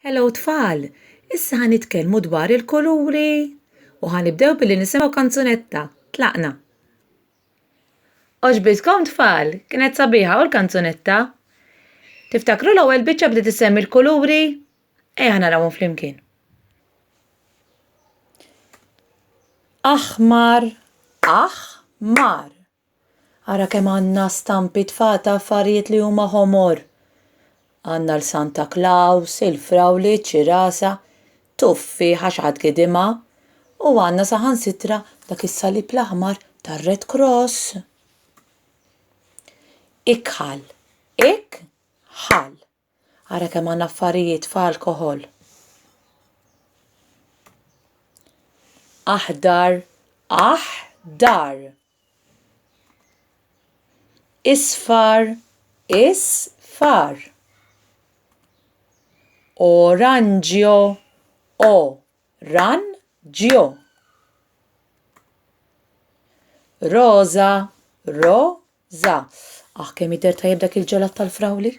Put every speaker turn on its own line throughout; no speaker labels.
Hello tfal! Issa ħa nitkellmu dwar il-kuluri u ħa nibdew billi nisimgħu kanzunetta. Tlaqna! Oġbitkom tfal, kienet sabiħa u l-kanzunetta? Tiftakru l-ewwel biċċa bdiet issemmi l-kuluri? Ejja narawhom flimkien. Aħmar, aħmar. Ara kemm għandna stampi tfa' ta' affarijiet li huma ħomor! Għandna l-Santa Klaws, il-frawli, iċ-ċirasa, tuffieħa xi ħadd gidimha, u għandna saħansitra dak is-salib l-aħmar tar-Red Cross. Ikħal. Ik-ħal. Ara kemm għandna affarijiet f'alkoħol. Aħdar, aħdar. Isfar, isfar. Oranġjo, o, ran, ġjo. Roża, ro, Za, Aħ kemm jidher tajjeb dak il-ġelat tal-frawli!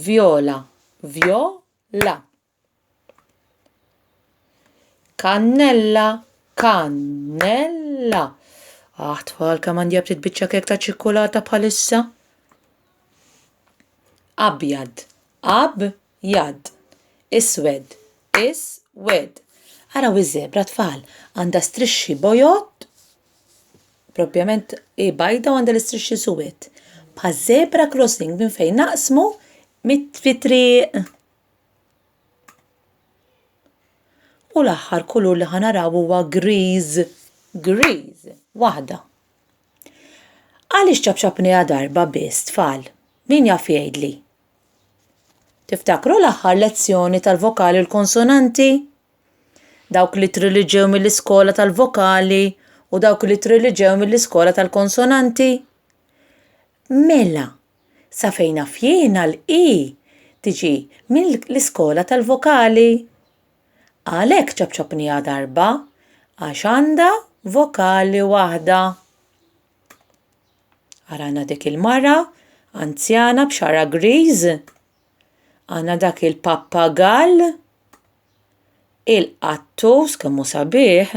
Vjola, Vjo, la. Kannella, Kan, nel, la. Aħ tfal kemm għandi btit biċċa kek ta' ċikkulata bħalissa! Abjad, Ab, Jad. Iswed. Is. Wed. Araw iż-żebra, tfal. Għandha strixxi bojod, propjament hi bajda u għandha l-istrixxi suwed. Bħaż-żebra crossing minn fejn naqsmu fit-triq. U l-aħħar kulur li ħa naraw huwa griż. Griż. Waħda. Għaliex ċapċapniha darba biss, tfal? Min jaf jgħidli? Tiftakru l-aħħar lezzjoni tal-vokali u l-konsonanti? Dawk li triliġew mill-iskola tal-vokali u dawk li triliġew mill-iskola tal-konsonanti? Mela, sa fejn fjena l-i tiġi mill-iskola tal-vokali. Għalhekk ċabċabniha darba għax għandha vokali waħda. Arana dik il-mara, anzjana b'xara griż, għana dak il-pappagall, il-qattus kemmu sabiħ,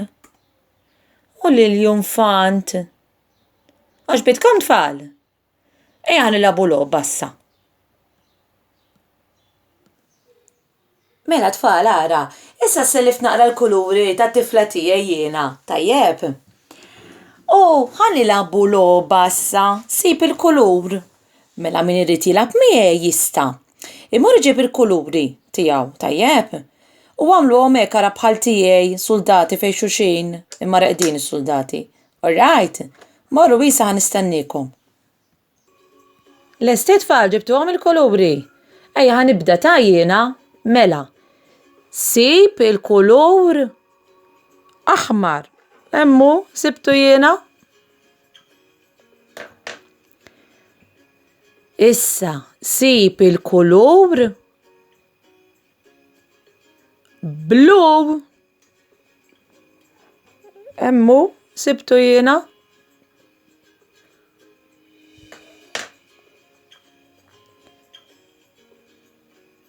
u l-junfant. Għax bitkom tfal, eja nilabu logħba issa. Mela tfal ara, issa sellift naqra l-kuluri tat-tifla tiegħi jiena, tajjeb? U ħa nilagħbu logħba issa, sib il-kulur. Mela min irid jilgħab miegħi jista'. Imur iġib il-kuluri tiegħu, tajjeb? U agħmluhom hekk ara bħal tiegħi, suldati fejn xulxin, imma reqdin is-suldati. Orrajt? Morru issa ħa nistenniekom. Lesti tfal ġibtuhom il-kuluri? Ejja ħa nibda ta' jiena. Mela. Sib il-kulur aħmar. Emmu, sibtu jiena? Issa, sib il-kulur Blue. Emmu, sibtu jiena.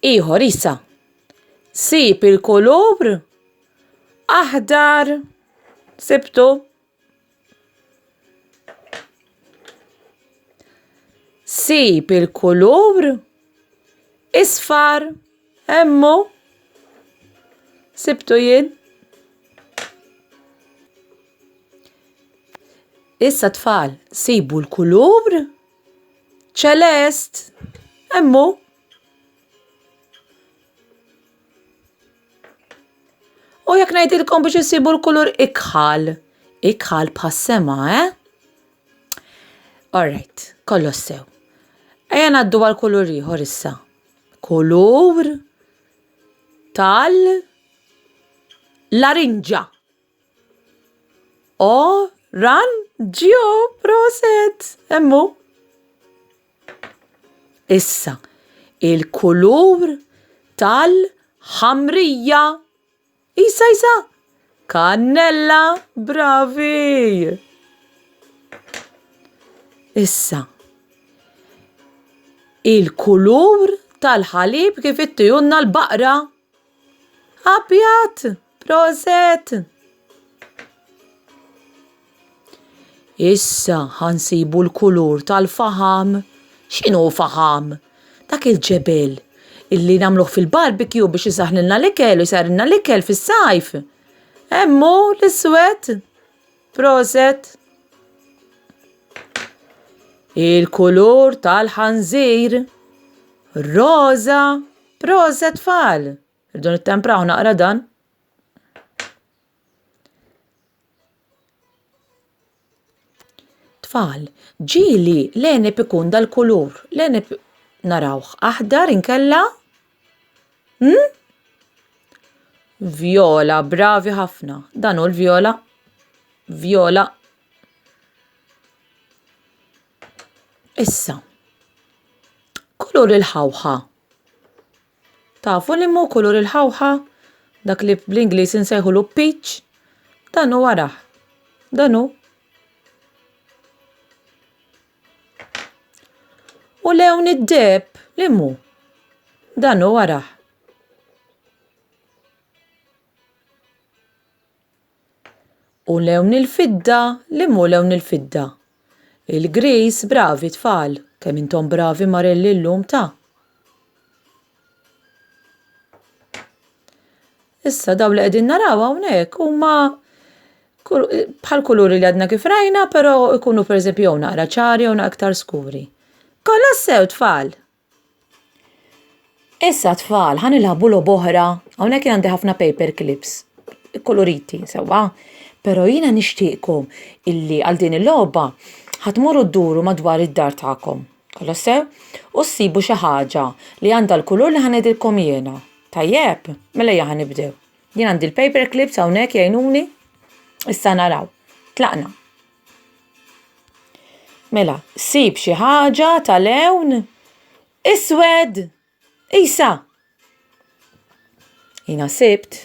Iħor, issa. Sib il-kulur aħdar. Sibtu. Sib il-kulur isfar emmu sibtu jien. Issa tfal, sibu l-kulur ċelest emmu. U jekk ngħidilkom biex issibu l-kulur ikħal, ikħal bħas-sema, eh? Alright, kollox sew. Ejja ngħaddu għal kulur ieħor issa. Kulur tal larinġa. O, ran, ġio, proset, emmu. Issa, il-kulur tal-ħamrija. Isa, isa, kannella, bravi. Issa, il-kulur tal-ħalib kif ittijunna l-baqra. Abjad, proset! Issa ħa nsibu l-kulur tal-faħam. X'inhu faħam? Dak il-ġebel illi nagħmluh fil-barbecue biex isaħħnilna l-ikel u jsarrilna l-ikel fis-sajf. Hemm hu l-iswed. Proset! Il-kulur tal-ħanżir. Roża. Proset tfal! Irdu nittempraw naqra dan. Tfal, ġili l-enib ikun dal-kulur. L-enib narawh aħdar inkella? Hmm? Viola, bravi ħafna. Dan hu l-viola. Viola. Issa, kulur il-ħawħa. Tafu li mu kulur il-ħawħa? Dak li bl-Ingliż insejħulu peach? Dan hu wara. Dan hu. U lewn id-deb li mu? Dan hu wara. U lewn il-fidda, li mhu lewn il-fidda? Il-griż, bravi tfal, kemm intom bravi marelli llum ta'. Issa daw li qegħdin naraw hawnhekk huma bħal kuluri li għadna kif rajna, però ikunu pereżempju jew naqra ċari jew naqra iktar skuri. Kollha sew tfal! Issa tfal, ħan ilħabu lob oħra. Hawnhekk għandi ħafna paper clips, koloriti, sewwa. Pero jiena nixtieqkom illi għal din il-logħba ħatmorru dduru madwar id-dar tagħkom. Kolla sew? U ssibu xi ħaġa li għandha l-kulur li ħa ngħidilkom jiena. Tajjeb? Mela ejja ħa nibdew. Jien għandi l-paper clips hawnhekk jgħinuni. Issa naraw. Tlaqna. Mela, sib xi ħaġa ta' lewn iswed. Isa! Jina sibt.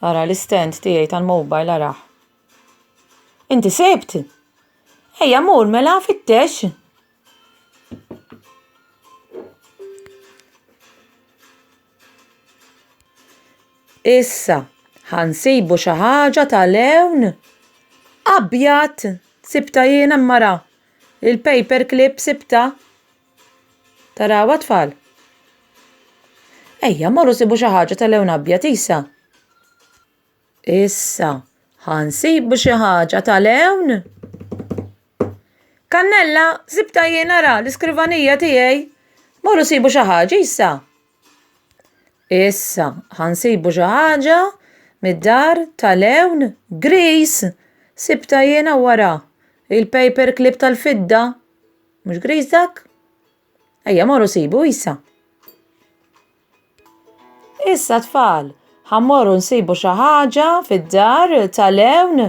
Ara l-istent tiegħi tal-mobile araħ. Inti sibt? Ejja mur mela fittex. Issa, ħa nsibu xi ħaġa ta' lewn abjad. Sibtha jiena imma ra, il-paper clip sibtha. Tarawha t-tfal? Ejja, morru sibu xi ħaġa ta' lewn abjad, Isa. Issa, ħa nsibu xi ħaġa tal-hewn. Kannella, sibta jien ara l-iskrivanija tiegħi. Morru sibu xi ħaġa issa. Issa, ħa nsibu xi ħaġa mid-dar tal-hewn gris. Sibta jiena wara il-paper clip tal-fidda. Mhux gris dak? Ejja morru sibu Isa. Issa tfal, ħammorru nsibu xi ħaġa fid-dar tal-ewn.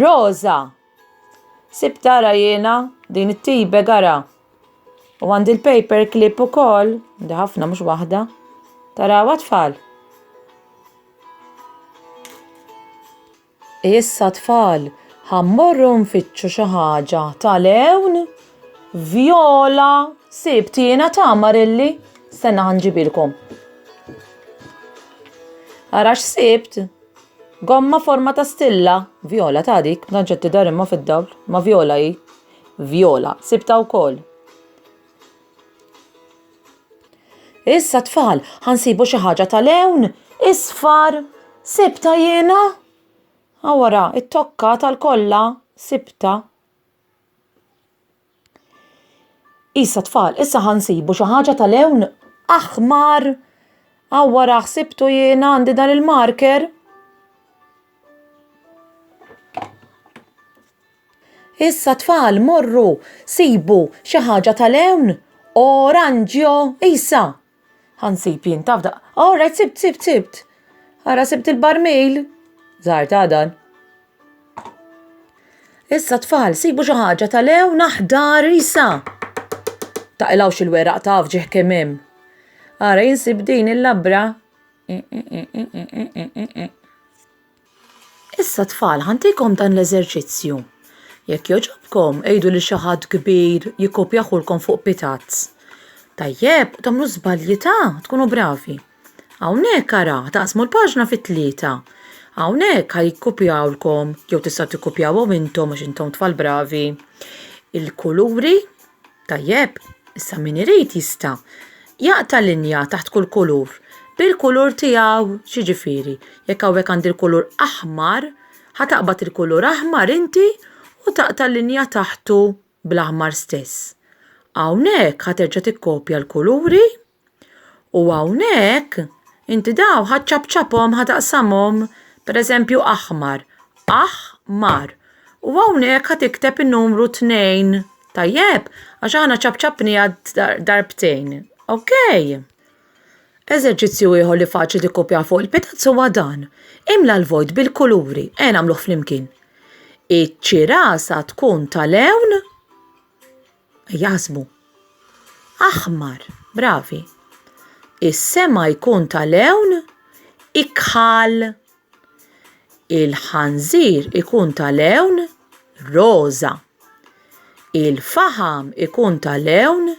Rosa! Sib tara jiena din it-tibe gara. U għandi l-paper clip ukoll, għandi ħafna mhux waħda. Tarawa tfal. Issa tfal, ħa mmorru nfittxu xi ħaġa tal-għewn? Vjola, Sibt jiena tama rilli, stenna ħa nġibilkom. Ara x'sibt? Gomma forma ta' stilla, Vjola ta' dik, b'danċetti dar imma fid-dawl, ma Vjola hi. Vjola, sibta wkoll. Issa tfal, ħansibu xi ħaġa tal-ewn, isfar, sibta jiena. Awara, it-tokka tal-kolla, sibta. Issa tfal, issa ħansibu xi ħaġa tal-ewn aħmar. Awara, ħsibtu jiena għandi dan il-marker. Issa tfal morru sibu xi ħaġa ta' lewn oranġjo isa. Ħansib jien taf da. All right sibt sibt sibt. Ara sibt il-barmil. Żar ta' dan. Issa tfal sibu xi ħaġa ta' lewn aħdar isa. Taqilgħu xi l-weraq taf ġieħ kemm hemm. Ara jinsib din il-labra. Issa tfal ħa ntikom dan l-eżerċizzju. Jekk jogħġobkom għidu lil xi ħadd kbir jikkopjahulkom fuq pitazz. Tajjeb, u tagħmlu żbalji ta' tkunu bravi. Hawnhekk ara taqsmu l-paġna fi tlieta. Hawnhekk ħa jikkopjawlkom jew tistgħu tikkopjawhom intom għax intom tfal bravi il-kuluri, Tajjeb, issa min irid jista' jaqta' linja taħt kull kulur bil-kulur tiegħu. X'jiġifieri, jekk hawnhekk għandi l-kulur aħmar, ħa taqbad il-kulur aħmar inti u taqta' linja taħtu bl-aħmar stess. Hawnhekk ħa terġa' tikkopja l-kuluri. U hawnhekk inti daw ħaċċapċapom ħataqsamhom pereżempju aħmar, aħ mar. U hawnhekk ħad ikteb in-numru 2, tajjeb? Għax aħna ċapċapniha darbtejn. Ok? Eżerċizzju ieħor li faċli tikkupja fuq il-pitazz huwa dan. Imla l-vojt bil-kuluri, e nagħmluh flimkien. Iċ-ċirasa tkun tal-lewn jaħsbu. Aħmar, bravi. Is-sema jkun ta' lewn ikħal. Il-ħanżir ikun ta' lewn roża. Il-faħam ikun ta' lewn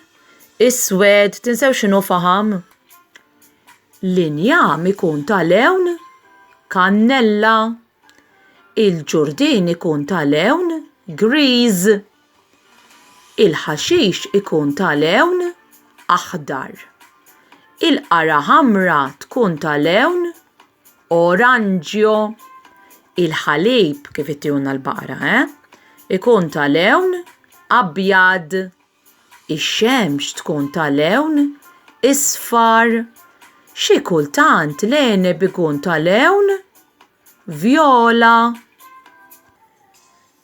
iswed. Tinsew x'inhu faħam? L-injam ikun ta' lewn kannella. Il-ġurdien ikun ta' lewn griż. Il-ħaxix ikun ta' lewn aħdar. Il-qara ħamra tkun ta' lewn oranġjo. Il-ħalib kif ittihulna l-baqra, eh? Ikun ta' lewn abjad. Ix-xemx tkun ta' lewn isfar. Xi kultant l-għeneb ikun ta' lewn vjola.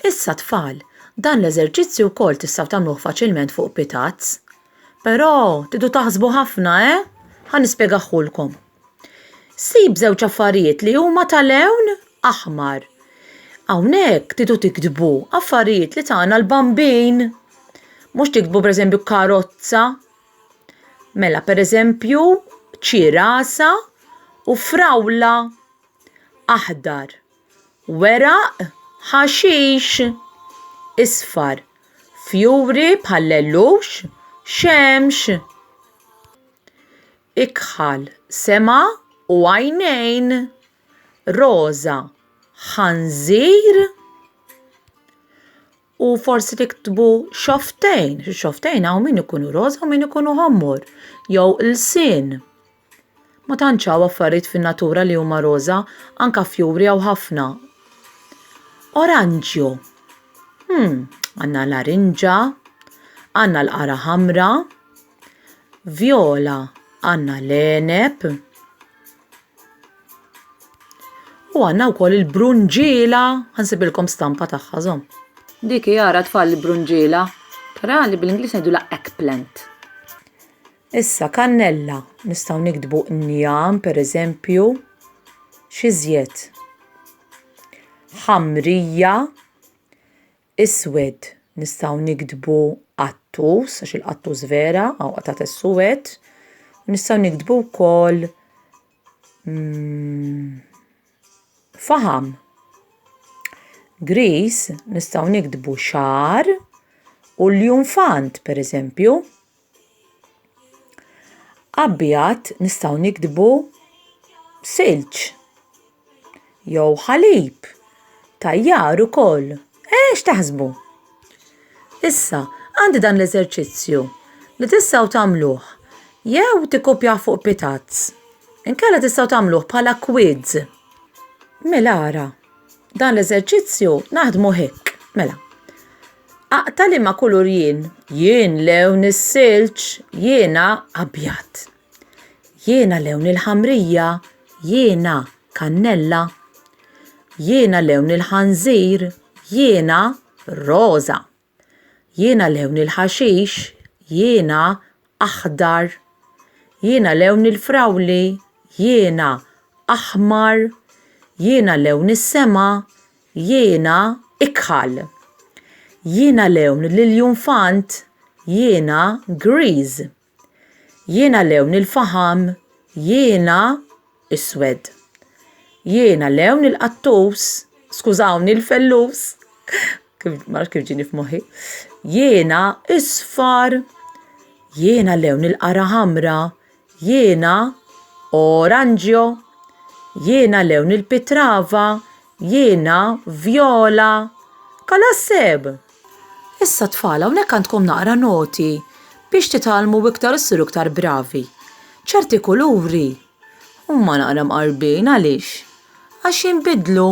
Issa tfal, dan l-eżerċizzju wkoll tistgħu tagħmluh faċilment fuq pitazz. Però tidu taħsbu ħafna, eh? Ħa nispjegaħulkom. Sib żewġ affarijiet li huma ta' lewn aħmar. Hawnhekk tidu tiktbu affarijiet li tagħna l-bambin. Mhux tiktbu pereżempju karozza. Mela pereżempju ċirasa u frawla. aħdar, weraq ħaxix, isfar, fjuri bħall-għellux, xemx, ikħal, sema u għajnejn, roża, ħanżir, u forsi tiktbu xofftejn, xofftejn hawn min ikunu roża u min ikunu ħommor, jew ilsien. Ma tantx hawn affarijiet fin-natura li huma roża, anke fjuri hawn ħafna. Oranġju. Hmm, għandna l-arinġa, għandna l-qara ħamra. Vjola għandna l-għeneb u għandna wkoll il-brunġiela, ħansibilkom stampa tagħha żomm. Dik jara tfal il-brunġiela, però li bl-Ingliż ngħidulha eggplant. Issa kannella, nistgħu niktbu njam pereżempju, xi żjed. Ħamrija, Iswed, nistgħu niktbu qattus, għax il-qattus vera, hawn qatgħat is-suwed. U nistgħu niktbu wkoll mm, faham. Gris nistgħu niktbu xar u l-junfant, pereżempju. Abjad nistgħu niktbu silġ jew ħalib tajjar ukoll. Eh, x'taħsbu? Issa, għandi dan l-eżerċizzju li tistgħu tagħmluh jew tikkopjawh fuq pitazz, inkella tistgħu tagħmluh bħala kwiz. Mela ara, dan l-eżerċizzju naħdmu hekk. Mela, Aqta' liema kulur jien? Jien lewn is-silġ, jiena abjad. Jiena lewn il-ħamrija, jiena kannella. Jiena lewn il-ħanżir, jiena roża. Jiena lewn il-ħaxix, jiena aħdar Jiena lewn il-frawli Jiena aħmar Jiena lewn is-sema Jiena ikħal Jiena lewn l-iljunfant Jiena griż Jiena lewn il-faħam Jiena iswed. Jiena lewn il-qattus, skużawni l-fellus, ma kif ġini f'moħħi. Jiena isfar, jiena lewn il-qara ħamra, jiena oranġjo, jiena lewn il-pitrava, jiena vjola. Kalasseb! Issa tfal hawnhekk għandkom naqra noti biex titgħallmu iktar u ssiru iktar bravi. Ċerti kuluri huma naqra mqarbin għaliex? Għax jinbidlu.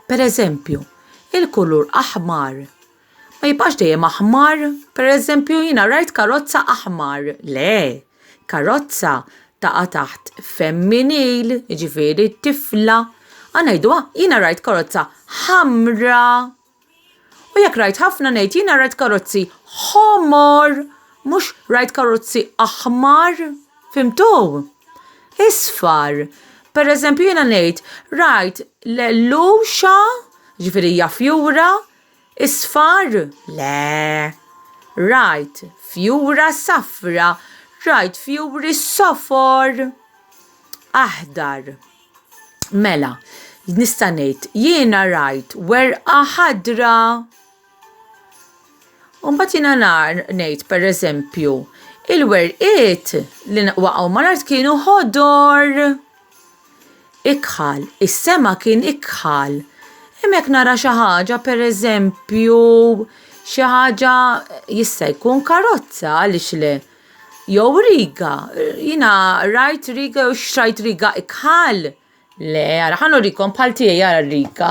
Per eżempju, il-kulur aħmar ma jibqax dejjem aħmar, per eżempju jiena rajt karozza aħmar, le, karozza taqa' taħt femminil, jiġifieri tifla, a ngħiduha jiena rajt karozza ħamra. U jekk rajt ħafna ngħid jiena rajt karozzi ħomor mhux rajt karozzi aħmar, fimtu? Isfar. Pereżempju jiena ngħid rajt l-għelluxa, jiġifieri hija fjura, isfar? Le. Rajt fjura safra, rajt fjuri sofor, aħdar. Mela, nista' ngħid, jiena rajt werqa ħadra. Umbagħad jiena nar ngħid pereżempju, il-werqiet li waqgħu mal-art kienu ħodor. Ikħal, is-sema kien ikħal. Hemmhekk nara xi ħaġa pereżempju xi ħaġa jista' jkun karozza għaliex le. Jew riga, jina rajt riga jew xtrajt riga ikħal. Le, għara, ħan urikom bħal tijaj għara riga.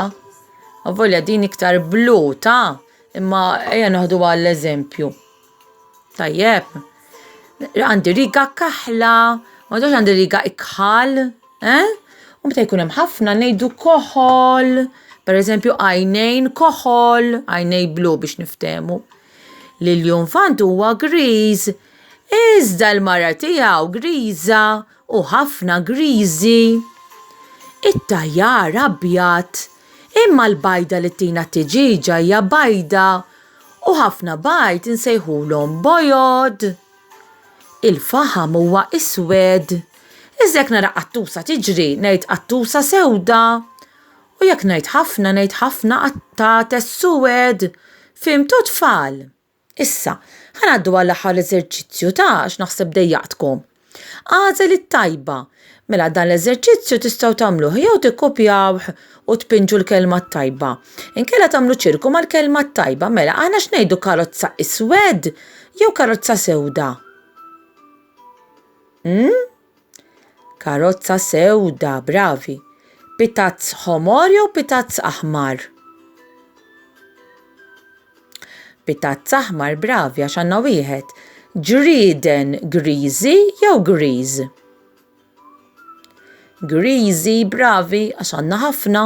Għavolja din iktar blu, ta' imma eja naħdu għall eżempju Tajjeb, għandi riga kaħla, ma dox għandi riga ikħal, eh? U meta jkun hemm ħafna ngħidu koħol, per eżempju għajnejn koħol, għajnej blu biex niftemu. li l-junfant huwa griż, iżda l-mara tiegħu griża u ħafna griżi. It-tajjar abjad, imma l-bajda li tina t-tiġiġa hija bajda u ħafna bajd insejħulhom bojod. Il-faħam huwa iswed. Iżda jekk nara qattusa tiġri, ngħid qattusa sewda. U jekk ngħid ħafna, ngħid ħafna qatates suwed! Fhimtu tfal? Issa, ħa ngħaddu għall-aħħar eżerċizzju ta' għax naħseb dejjaqtkom. Agħżel it-tajba. Mela dan l-eżerċizzju tistgħu tagħmluh jew tikkopjawh u tpinġu l-kelma t-tajba. Inkella tagħmlu ċirku mal-kelma t-tajba. Mela aħna x'ngħidu karozza iswed jew karozza sewda? Hmm? Karozza sewda, bravi. Pitazz ħomor jew pitazz aħmar? Pitazz aħmar, bravi, għax għandna wieħed. Ġrieden griżi jew griż? Griżi, bravi, għax għandna ħafna.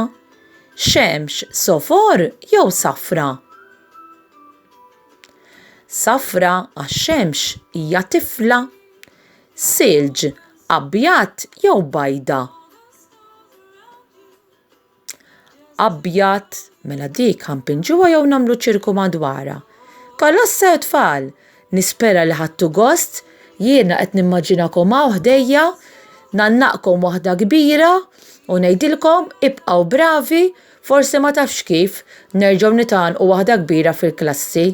Xemx sofor jew safra? Safra għax xemx hija tifla. silġ, abjad jew bajda. Abjad, mela dik ħanpinġuha jew nagħmlu ċirku madwarha. Kolossa u tfal, nispera li ħadtu gost, jiena qed nimmaġinakom hawn ħdejja, ngħannaqkom waħda kbira u ngħidilkom ibqgħu bravi, forsi ma tafx kif, nerġgħu nitgħannqu waħda kbira fil-klassi.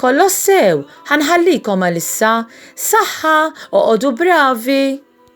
Kolossew, Ħa nħallikom għalissa. Saħħa, oqogħdu bravi!